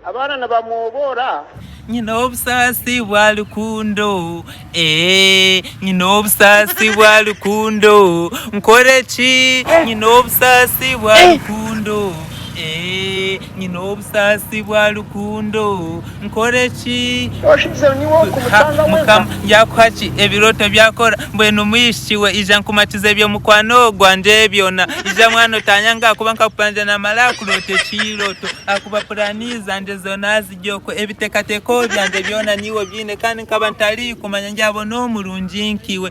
Abaana nibamwoboora. Nyine obusaasi bwa rukundo eeh Nyine obusaasi bwa rukundo Nkore ki Nyine obusaasi bwa rukundo eeh Nyine obusaasi bwa rukundo. Nkore ki? Mukama yakuha ki? Ebirooto byakora. Mbwenu mwishiki we, ija nkumatize ebyo mukwano gwangye byona. Ija mwana otanyanga ahakuba nkakupangire namara kuroota ekirooto. Ahakuba puraani zangye zoona ziri okwo. Ebiteekateeko byangye byona niiwe obiine. Kandi nkaba ntari kumanya ngyabona omurungi nk'iwe.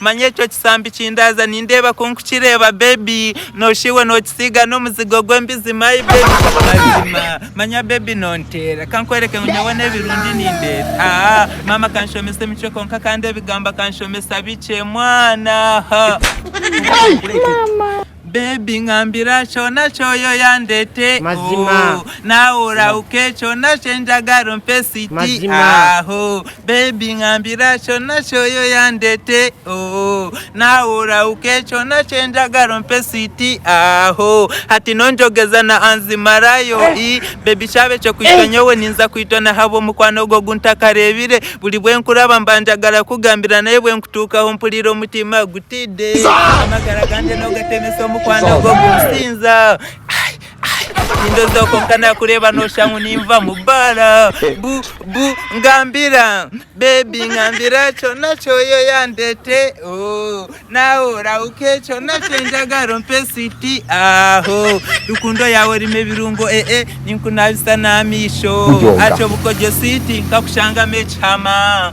Manya ekyo kisambi kindaaza nindeeba ku nkukireeba baby nosha iwe nokisiiga n'omuzigo gw'embizi my baby mazima manya baby nonteera kankwereke ngu nyowe n'ebirungi nindeeta haa maama kanshomesa emicwe kwonka kandi ebigambo akanshomesa bikye mwana haa. Baby ngambira kyona kyoyoyandete oh Nawe orahuke kyona kyenjagara ompe siti aho Baby ngambira kyona kyoyoyandete oh Nawe orahuke kyona kyenjagara ompe siti aho Hati nonjogeza na anzi marayo i Baby kyaba ekyo kwitwa nyowe ninza kwitwa nahabwomukwano ogwo oguntakarebire Buri bwenkuraba mbanjagara kugambira naye bwenkutukaho mpurira omutima Tiddy amagara gangye nogatemesa omukwano gwo gusinza nindozaho konka nakureeba nosha ngu ninva mu baara bu bu ngambira bebi ngambira kyona kyoyo yandete oh, nawe orauke kyona kyenjagara ompe switi aho rukundo yawe erimu ebirungo ee eh, eh, ninkunabisa n'amaisho akyobukogyo switi nkakushangamu ekihama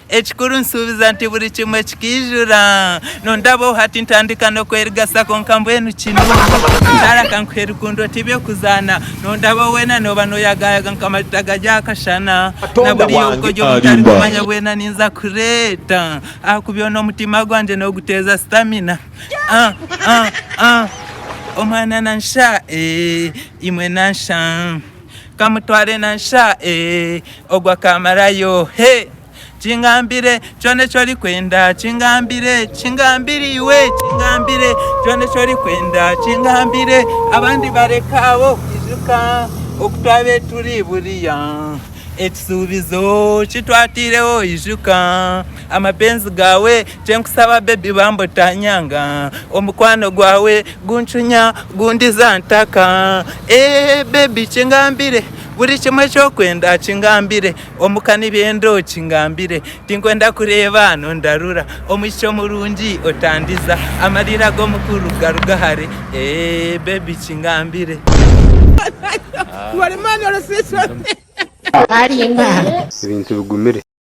Ekikuru nsuubiza nti buri kimwe kikaijura. Nondabaho hati ntandika n'okwerigasa kwonka mbwenu kinuunu. Shaara kankuhe rukundo ti by'okuzaana. Nondabaho weena nooba noyagayaga nka majuta gari aha kashana. Na buriya obugoryi obu ntari kumanya bwena ninza kureeta. Ahakubi onu omutima gwangye nooguteeza sitamina. Ah ah ah Omwana nansha eeh imwe nansha. Kamutware na nsha eeh ogwo akamarayo hey Kingambire kyona eki orikwenda Kingambire Kingambire iwe Kingambire kyona eki orikwenda Kingambire abandi bareke aho Ijuka oku twabaire turi buriya Ekishuubizo ki twataireho Ijuka amapenzi gaawe Kyenkusaba baby bambi otanyanga Omukwano gwawe guncunya gundiza ntaka Eeh baby kingambire Buri kimwe ekyokwenda kingambire Omu kanwa ebyendo kingambire Tinkwenda kureeba nondarura Omwishiki omurungi otandiza Amarira g'omukuru garuga hare Eeh baby kingambire Ebintu bigumire.